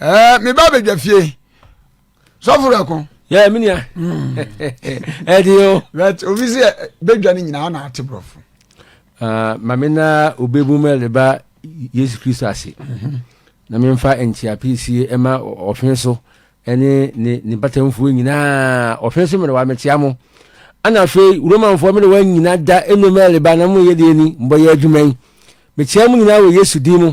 ɛɛ mi ba bɛ dwa fie sɔfo rɛ ko. yɛ mi nia ɛdi hmm. o. bɛt obi si bɛ dwa ni nyinaa ɔna ati borɔfo. Ah, maame na obe mu mɛ leba yesu kristo ase mhm. na mi nfa nkyia pii sie ɛma ɔfin so ɛne ne ne batamfoɔ nyinaa ɔfin so mɛrɛ wa mɛ tia mo ɛna afei romanfoɔ mɛrɛ wa nyina da ɛnu mɛ leba na mo yɛ deɛ ni mbɔ yɛ adwuma yi mɛ tia mo nyinaa wɔ yesu din mu.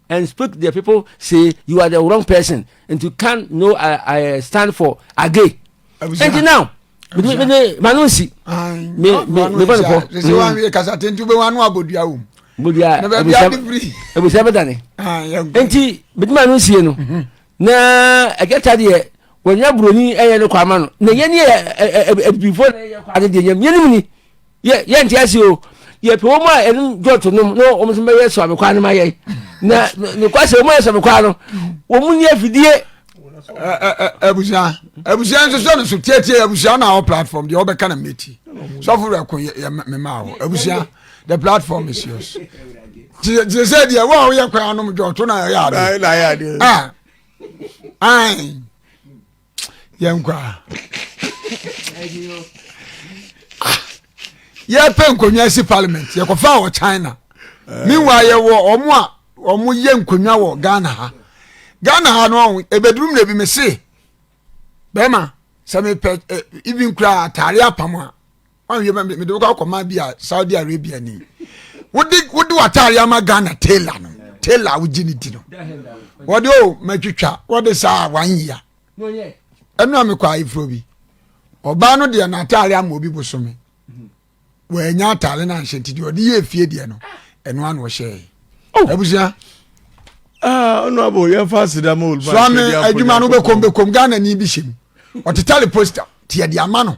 and speak the people say you are the wrong person and you can no I, uh, I uh, stand for again. And now mede mede mano nsi me me me bɔ ne kɔ. sisi wa mi kasa tenti bɛ wanu abodua o. bodua ebusa ebusa bɛ dani. nti mede mano nsi yɛ no. Na agyata deɛ wɔnya buroni ɛyɛ no kwa ama no na yɛn yɛ abibifo na yɛ kwa no deɛ yɛn yɛn nim ni yɛ yɛn ti ase o yɛ pɛ wɔn a ɛnum dɔɔto nom na wɔn nso bɛyɛ sɔmi kwa no ma yɛ na nokwa sɛ wɔn yɛ sɔmi kwa no wɔn ni afidie. abusua abusua nso sɛ no so tietie abusua na awɔ platform deɛ wɔbɛka na mmeti sɔfo rɛ ko yɛ mema awɔ abusua. the platform is yours te sɛ deɛ wo a woyɛ kwan anom dwa ɔto no a ɛyɛ ade ah. ai yɛnkɔ a yɛpɛ nkonnwa si parliament yɛkɔfa wɔ china eh. meanwhile yɛwɔ ɔmo a ɔmo yɛ nkonnwa wɔ ghana ha ghana ha no ɛbɛduru mmerɛ bi me se bɛrima sɛ mepɛ eh, even koraa atare apam a ɔnwie ma mede wokɔ akɔma bi a saudi arabia ni wode wode wataare ama ghana tailor no tailor a wogye ne di no wɔde o oh, matwitwa wɔde saa one year ɛno a mekɔ ayeforɔ bi ɔbaa no deɛ n'ataare ama obi bosome wɔanya ataare no anhyɛ nti deɛ ɔde yɛ efie deɛ no ɛno ano ɔhyɛe oh. abusua ah, honorable yɛmfa aseda ma oluma swame adwuma no wobɛkɔm bɛkɔm ghana ni bi hyɛ mu ɔtetare poster tiɛ de ama no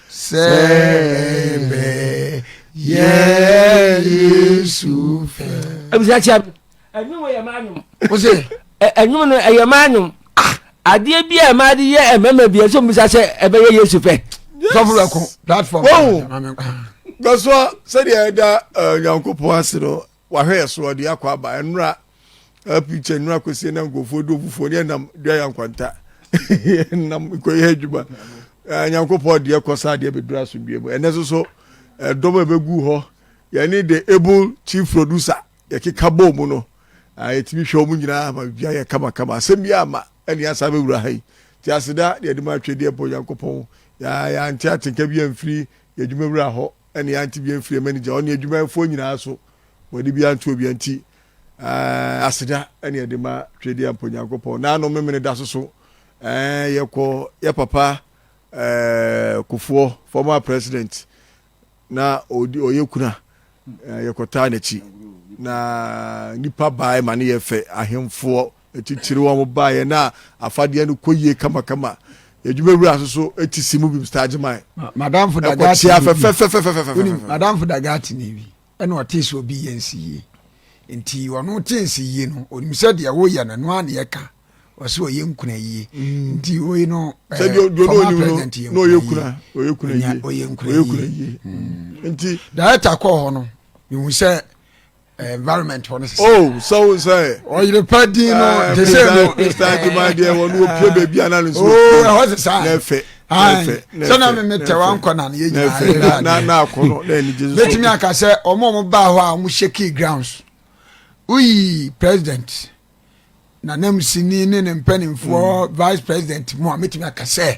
Sɛ bɛ yɛ Yesu fɛ. Ebisa kyia mi. Ɛnum yɛ maa nyom. O se. Ɛnum no ɛyɛ maa nyom. Adeɛ bi a ɛmaa de yɛ ɛmɛmɛ bi ɛsɛ omisa sɛ ɛbɛyɛ Yesu fɛ. Sɔfo bɛ ko platform. Wɔn gasua sɛdeɛ ɛda Nyankopɔn ase no Wahwɛ yɛ so, ɔde yɛ akɔ aba. Ɛnora a picture nnora kɔsie na nkurɔfoɔ do obufoɔ ne ɛnam dua yɛ nkwanta. Ɛnam kɔyɛ adwuma. Nyankopɔn ɔde yɛ kɔ saa adeɛ bɛduru asomdwie mu. Ɛnɛ soso ɛdɔm a ɛbɛgu hɔ yɛne the able chief producer yɛkeka bɔɔ mu no yɛtumi hwɛ wɔn nyinaa ma bibia yɛ kama kama. Asɛm bi ama ɛne asa bɛwura ha yi. Nti aseda ne adum atwedeɛ bɔ Nyankopɔn yɛante atenka bi amfiri yɛdwumawura hɔ. Ɛne ante bia mfiri manager ɔne adwumayɛfoɔ nyinaa so wɔde bia nto obia nti eh, aseda ɛne ɛde ma twɛdi ampa Onyankopɔn naano memene da so so eh, yɛkɔ yɛ papa eh, kofoɔ former president na ɔdi ɔyɛ kuna eh, yɛkɔtaa n'akyi na nipa baa ma ne yɛ fɛ ahemfoɔ Atitire wɔn baeɛ na afadeɛ no kɔ yie kamakama. Yɛdwuma wura nso so ti si mu bim star gyeman. Madamfo da gaatini bi. Ɛkɔ kyea fɛfɛfɛfɛfɛfɛ. Wonim madamfo da gaatini bi ɛna ɔtee sɛ obi yɛ nsi yie. Nti ɔno te nsi yie no onim sɛ deɛ woyɛ no noa ne ɛka ɔsɛ ɔyɛ nkuna yie mm. nti wei no eh, former president yɛ nkuna yie ɔyɛ nkuna yie mm. nti director kɔɔ hɔ no mehu sɛ environment hɔ no sisa. Oh, sɛ wo sɛ. Ɔyere pa din no eh, te sɛ no. Mr. Adwuma deɛ wɔn no wɔpie baabi a na ne nso. Oh, ɛhɔ sisa. Na ɛfɛ. Ayi sɛ na mimi tɛ wa nkɔ na yɛ nyinaa yɛ yɛ na na akɔ no na ɛni gye so. Betumi aka sɛ wɔn a wɔn baa hɔ a wɔn hyɛ key grounds. Woyi president na nam sini ne ne mpanimfoɔ mm. vice president mu a metumi aka sɛ.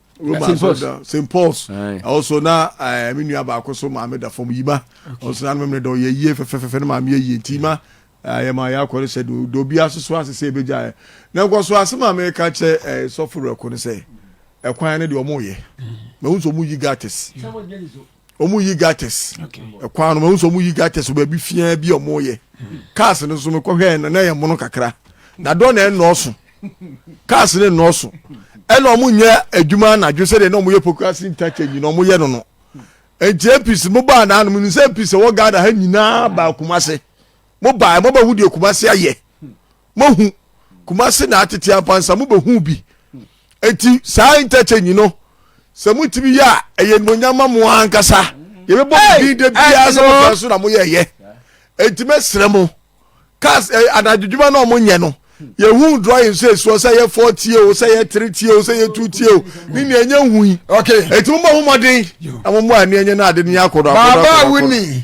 Roma St. Paul's. asɔreda St. Paul's Aye. ɛwɔ so na eh, me nua baako so maame da fam yi ma ɔno so na no memene dɛ ɔyɛ yie fɛfɛfɛfɛ no maame yɛ yie nti ma eh, yɛ ma yɛ akɔ no sɛ do do bi asoso ase sɛ ɛbɛgya ɛ na nkɔ so ase ma meka kyɛ eh, sɔfo werɛko no sɛ ɛkwan no deɛ ɔmo yɛ mahu sɛ ɔmo yi gates wɔn yi gates ɛkwan no wɔn nso wɔn yi gates baabi fiaa bi a wɔn yɛ cars no nso mekɔ hwɛ na na yɛ mono kakra na dɔn na ɛnɔɔso cars no ɛnɔɔso ɛna wɔn nyɛ adwuma anadwo sɛdeɛ na wɔn yɛ pokasi interchange na wɔn yɛ no no nti apc mo baa na anum nsɛ apc wɔ ghana ha nyinaa baa kumase mo baa mo bɛ hu deɛ kumase ayɛ. moahu kumase na atete ampansa mobɛhu bi enti saa interchange no sɛ motumi yɛ a ɛyɛ nimonyam ma mo ankasa yɛbɛbɔ mo din da biara sɛ mokwan so na moyɛɛyɛ enti mɛsrɛ mo cars eh, anadwodwuma na ɔmo nyɛ no yɛhu drawing sɛ ɛsuɔ sɛ yɛ four tie o sɛ yɛ three tie o sɛ yɛ two tie o ne nea ɛnyɛ hu yi ɛti mo bɔ ho mmɔden na mo mmɔ ani ɛnyɛ no ade no yɛ akɔdɔ akɔdɔ akɔdɔ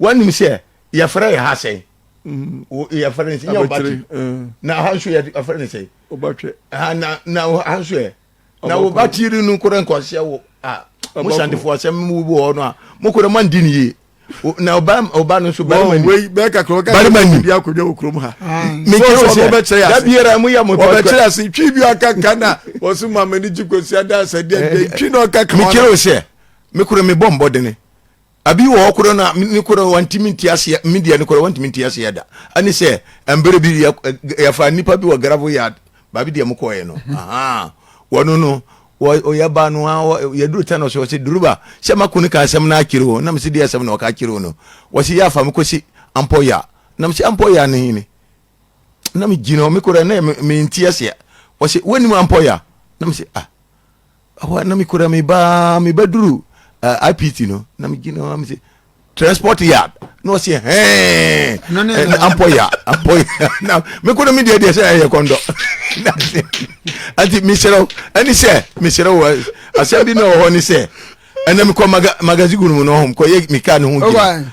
wanim sɛ yɛfrɛ yɛ ha sɛn yɛfrɛ no sɛ nyɛ ɔbatwe na ha nso yɛfrɛ no sɛ ɔbatwe na na ha nso yɛ na wo ba tiri no kora nkɔseɛ wo a mo santefo asɛm mu bi hɔ no a mo kora mo andi ne yie na ɔba ɔba no nso barima ni bɛɛ kakra ɔka barima ni bi akɔdwa wɔ kurom ha mekyerɛ wo sɛ da biara mo yɛ mo pɔtɔ ɔbɛkyerɛ ase twi bi ɔka ka na ɔso ma m'ani gye kɔsi ada asɛdeɛ twi na ɔka ka mekyerɛ wo sɛ me kora mebɔ mbɔdene Abi wɔ hɔ korɔ no a ne korɔ wantumi nte aseɛ me deɛ no korɔ wantumi nte aseɛ da ɛne sɛ mberɛ bi yɛfa nnipa bi wɔ gravel yard baabi deɛ mokɔɛ no aha wɔno no ɔyɛ ba no yɛduru tɛ no so ɔsɛ duruba sɛ mako no ka asɛm no akyerɛ o nam sɛ deɛ asɛm no ɔka akyerɛ o no wɔsɛ yɛafa me kɔsi ampɔ ya nam sɛ ampɔ ya no hene nam gyina me korɔ na mente aseɛ wɔsɛ wonim ampɔ ya nam sɛ ah Ɛhɔ a na mekura me ba mebɛduru uh, IPT no na megyina hɔ mese transport yard na ɔsɛ hɛn ampɔ ya ampɔ ya na mekɔ no medeɛ deɛ sɛ ɛyɛ kɔndɔ nti meserɛ wo ɛne sɛ meserɛ wo asɛm bi na wɔ hɔ ne sɛ ɛnɛ mekɔ magazine mu no hom kɔyɛ meka ne ho gyina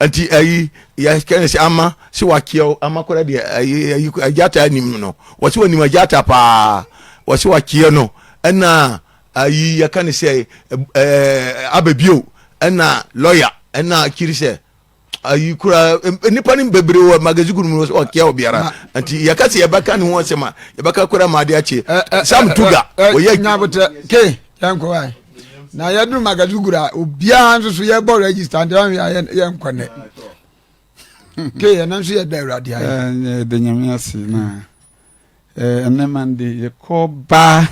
Nti ayi yɛ kɛnɛ sɛ ama sɛ wakyeɛw ama kora deɛ ayi ayi agyata anim no wɔsi wɔ nim agyata paa wɔsi wakyeɛ no ɛna ayi yɛ kɛnɛ sɛ ɛɛ abɛbio ɛna lɔya ɛna akyiri sɛ ayi kora nipa ne bebree wɔ magazine kunu mu wɔsi wakyeɛ wɔ biara nti yɛ kɛse yɛ bɛka ne ho asɛm a yɛ bɛka kora ma ade akye sam tuga wɔyɛ. nyabotire ke yɛn kɔ wa. na yɛduru magaduguru a obiara nso so yɛbɔ register nti ɔhwɛ a yɛnkɔ nnɛ ke yɛn nso yɛda awurade ayɛ yɛda nyame ase na ɛnɛ mande yɛkɔ baa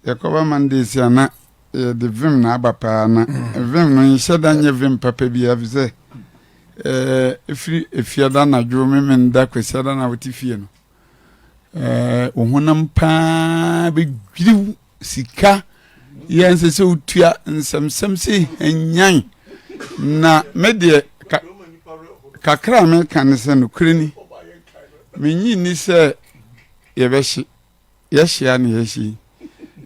yɛkɔ ba mande si ana yɛde vim na aba paa na mm. vim no nhyɛ da nyɛ vim papa bi afi sɛ ɛfiri efiada anadwo memenda kwasiada na wote fie no ɛɛ wo honam paa bɛdwiriw sika yɛ nsɛ sɛ wotua nsɛmsɛm sɛ hanyan na me deɛ ka kakra a meka ne sɛ nokorɛ ni menyi nni sɛ yɛbɛhye yɛhyia ne yɛhye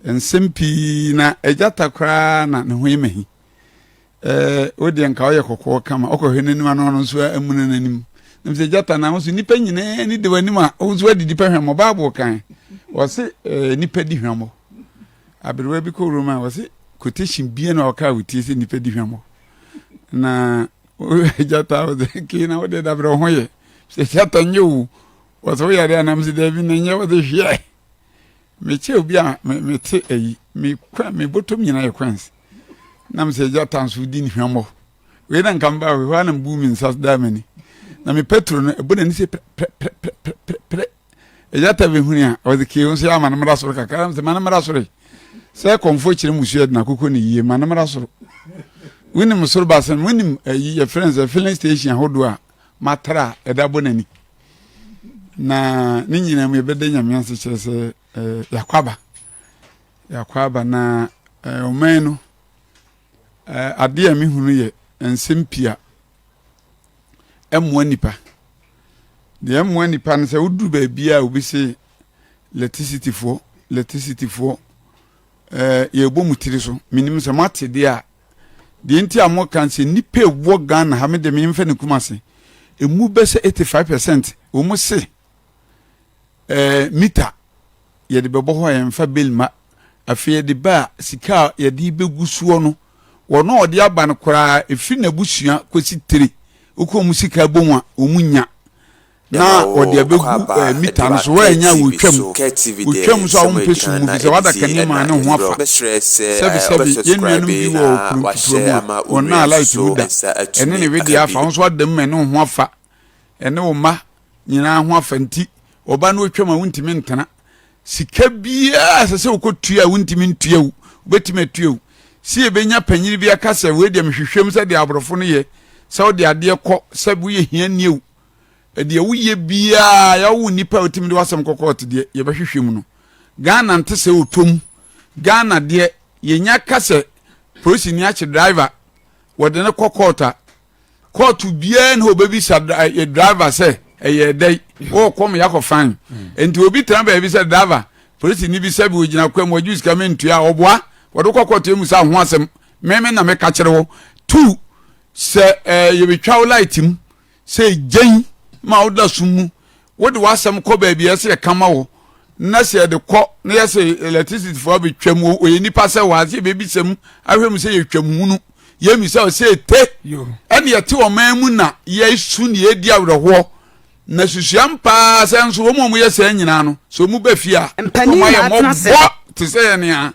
nsɛm pii na agyata koraa na ne ho yɛ mahi ɛɛ wodeɛ nka woyɛ kɔkɔɔ kama ɔkɔhwɛ n'anim ano ɔno nso amuna n'anim nam sɛ gyata na ahosuo nipa nyinaa ni de w'anim a ɔwo nso adidi pɛ hwɛmmɔ baabo kan wɔse ɛɛ nipa di hwɛmmɔ aberewa bi kɔ roma wɔse quotation bia na ɔka wotie sɛ nipa di hwɛmmɔ na gyata wɔde kee na wode dabrɛ wo ho yɛ sɛ gyata nyɛ o wɔsɛ woyɛ adeɛ anam sɛ daabi na nyɛ wɔde hwɛ Mekyɛ obi a me mete ayi me kwan me bɔtɔm nyinaa yɛ kwansi na me sɛ agya tanso wodi ne hwammɔ wei na nka mba wei hɔ na mbu me nsa daa m'ani na me petro no ɛbɔ n'ani sɛ prɛprɛprɛprɛprɛ agya ta bɛ huni a ɔdze kee nso yɛ ama no mmra soro kakra na me sɛ ma no mmra soro yi sɛ kɔmfoɔ kyerɛ mu suɛ de na akokɔ ne yie ma no mmra soro wonim soro basen wonim ayi yɛ friends filling station ahodoɔ a matra ɛda bɔ n'ani na ne nyinaa mu yɛbɛda nyame ase kyerɛ sɛ eh, yɛakɔ aba yɛakɔ aba na eh, ɔman no eh, adeɛ a mehunu yɛ nsɛm pia ɛmmoa nipa deɛ ɛmmoa nipa no sɛ woduru baabi a obi se electricityfoɔ electricityfoɔ yɛbɔ mu tiri so menim sɛ moate deɛ a deɛ nti a mo kan sɛ nipa ewɔ Ghana ha me de me nfa ne Kumasi emu bɛ sɛ eighty five percent wɔn se ɛɛ eh, mita yɛde bɛbɔ hɔ a yɛn fa bɛli ma afei yɛde ba a sika a yɛde bɛgu soɔ no wɔn a ɔde aba no koraa efiri n'abusua kɔsi tire okɔ wɔn sika bɔ mu a wɔn nya Na wɔde abegu ɛɛ mita no so, wɔanya wɔtwam, wɔtwam nso a wɔmpɛ sum mu, fisɛ wɔada kanea mu a ne ho afa. Sɛbesɛbe, yɛn nuanom bi wɔ ɔkono nketewa mu a, wɔn nan a light no da, ɛne ne wedeɛ afa, wo nso w'ada mu a ɛne wo ho afa, ɛne wo mma nyinaa ho afa, nti wɔba na wɔtwam a wontumi ntena. Sika biara a ɛsɛ sɛ wokɔtua a wontumi ntua o, wobɛtumi atua o. Sɛ yɛbɛnya panyini bi aka sɛ, wei deɛ mehwehwɛm sɛ deɛ aborɔfo no yɛ, sɛ wode adeɛ kɔ, sɛ woyɛ hiani o, deɛ woyɛ biaa yɛwo wo nipa a otimi de wasɛm kɔ court deɛ yɛbɛhwehwɛ mu no Ghana nte sɛ ɔtɔ mu Ghana deɛ yɛnya ka sɛ polisi ni akye driver wɔde ne kɔ court a court biaa ne hɔ ɔbɛbisa eh, driver sɛ ɛyɛ dɛn wɔkɔ me yakɔ fan nti mm. obi tena baabi sɛ driver polisi ni bi sɛ bi ogyina kwa mu ɔgye sika mentua a ɔboa wɔde kɔ court emu sɛ ho asɛm meme na meka kyerɛ wo two sɛ eh, yɛbɛtwa wo light mu Sɛ egyen ma woda sum mu, wode w'asɛm kɔ baabi a ɛsɛ yɛka ma wo, na sɛ yɛde kɔ na yɛsɛ electricityfoɔ abɛtwam, wɔyɛ nnipa sɛ wɔ ha sɛ yɛbɛbisam ahwɛ mu sɛ yɛtwam hunu, yɛmmisa wo sɛ ɛte, ɛne yɛte ɔman mu na yɛsu ne yɛdi awerɛhoɔ. Na susua mpaa sɛ nso wɔn a wɔyɛ saa nyinaa no, sɛ wɔn ba fie a, wɔayɛ mmɔbɔ te sɛ yɛn a.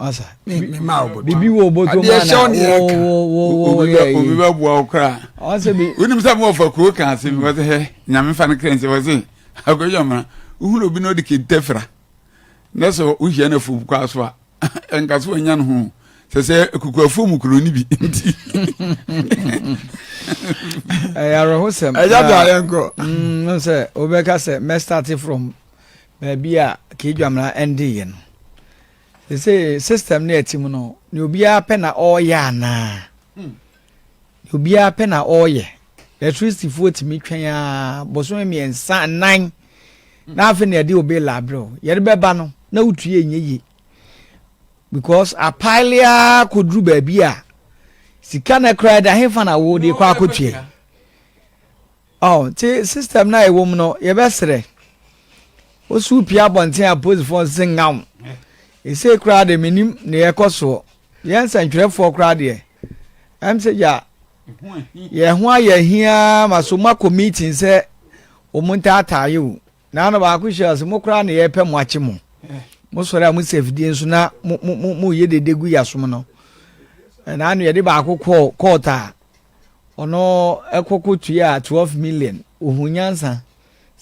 ɔsa mi mi ma ɔbɔ tɔ bibi wo bɔ tɔ mu ana wo wo wo wo yɛ yi obi bɛ bu awo kura ɔsɛ bi wuli mi sɛ mo ɔfɔ kuro kan se mi wɔ se hɛ nyame fa ne kira nse wɔ se akoyi ɔmɔ ohun obi na ɔdi kente fira ne sɛ ohyia na fom kɔ aso a nka so ɔnya ne ho sɛ sɛ kuku afom kuro ne bi nti ɛyɛ awerɛhosɛm ɛyɛ de ayɛ nkɔ sɛ wobɛka sɛ mɛstate from baabi a K'Dwamena ɛndeeɛ no. Sesei system no a ɛte mu no, ne obiara pɛ na ɔreyɛ anaa? Hmm. Ne obiara pɛ na ɔreyɛ. Electricityfoɔ tumi twɛn a bosome mmiɛnsa nnan hmm. na afei na ɛde obe labrɛ o. Yɛde bɛba no na wotue nyɛ yie. Because apaele ara kɔduru baabi a sika no koraa da hefa na wode kɔ akɔtua yi. Ɔɔ ntsi system no a yɛwɔ mu no yɛbɛserɛ wo so wo pue abɔntsen a polisfoɔ nsese nnga wo. Esei koraa de mennim nea ɛrekɔ soɔ. Yɛn nsɛntwerɛfoɔ koraa deɛ ɛm sɛ gya yɛn ho ayɛ ahiaa ma so moakɔ meeting sɛ wɔn ntaataa yɛ o. Naano baako hyɛ ɔse mo koraa na yɛpɛ mo akye mo. Mo sɔre a mo si afidie nso na mo mo mo yɛ dede gu yasom no. Naano yɛde baako kɔɔ kɔɔt a Ɔno kɔ kɔ tuaa twelve million. Ohun nyansa.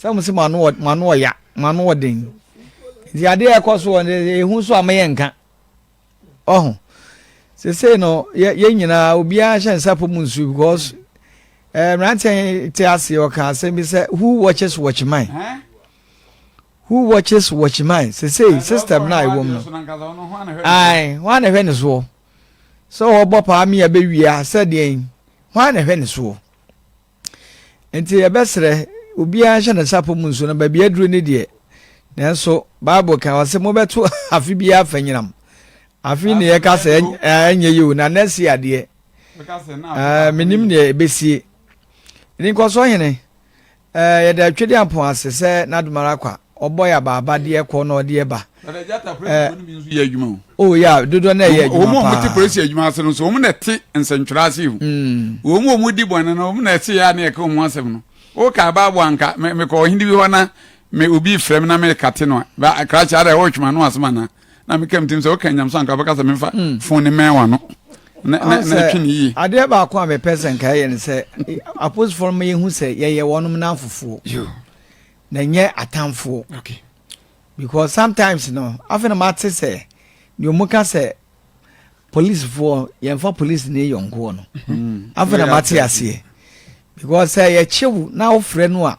Sɛ mo se mo ano mo ano ɔya, mo ano ɔden. Nti adeɛ a ɛkɔ so wɔ no ehu so a mo yɛ nka. Ɔho. Sese no yɛ yɛ nyinaa obiara hyɛ nsa po mu nsu because ɛɛ eh, mmeranteɛ te ase ɔka asɛm bi sɛ who watches watch mine. Who watches watch mine. Sese system na ɛwɔ mu no. Ae, wɔn na ɛhwɛ ne soɔ. sɛ ɔbɔ paa me a bɛwie a sɛ deɛn hwan na ɛhwɛ ne soɔ nti yɛbɛsrɛ obiara nhyɛ ne sapɔ mu nso na baabi aduro ne deɛ nanso bible kan wɔ sɛ mobɛto afe biara fa nyinam afe ne yɛka sɛ ɛnyɛ yɛ o na nɛ si adeɛ menim deɛ ɛbɛsie ne nkɔsoɔ hene Ɛɛ, yɛda Twediampɔn ase sɛ n'adomara kwa, ɔbɔ yɛ abaaba de yɛ kɔ na ɔde yɛ ba. Na da Gyata Prɛsi fo no bi nso yɛ adwuma o. Oh yeah, dodoɔ no ɛyɛ adwuma paa. Wɔn a wɔte Prɛsi adwuma ase no nso, wɔn na ɛte nsɛntwerɛ ase hu. Wɔn a wɔdi bɔne no, wɔn na ɛte yɛ a na yɛka wɔn ho asɛm no. Woka abaabo a, anka mekɔ ɔhene bi hɔ na me obi refrɛ me na merekate no a, krakye ara, woretwe m'ano asɛm anaa? na meka mtim sɛ woka nyamso anka bɛka sɛ memfa hmm. fon ne mɛn wano na ɛtwe ne yie adeɛ baako a mepɛ sɛ nka yɛ no sɛ aposifoɔ no yɛhu sɛ yɛyɛ wɔnom no afofoɔ na ɛnyɛ atamfoɔ because sometimes no afei na mate sɛ deɛ ɔmu ka sɛ policefoɔ yɛmfa police ne yɔnkoɔ no hmm. afei na mate aseɛ because sɛ yɛkyew na wofrɛ no a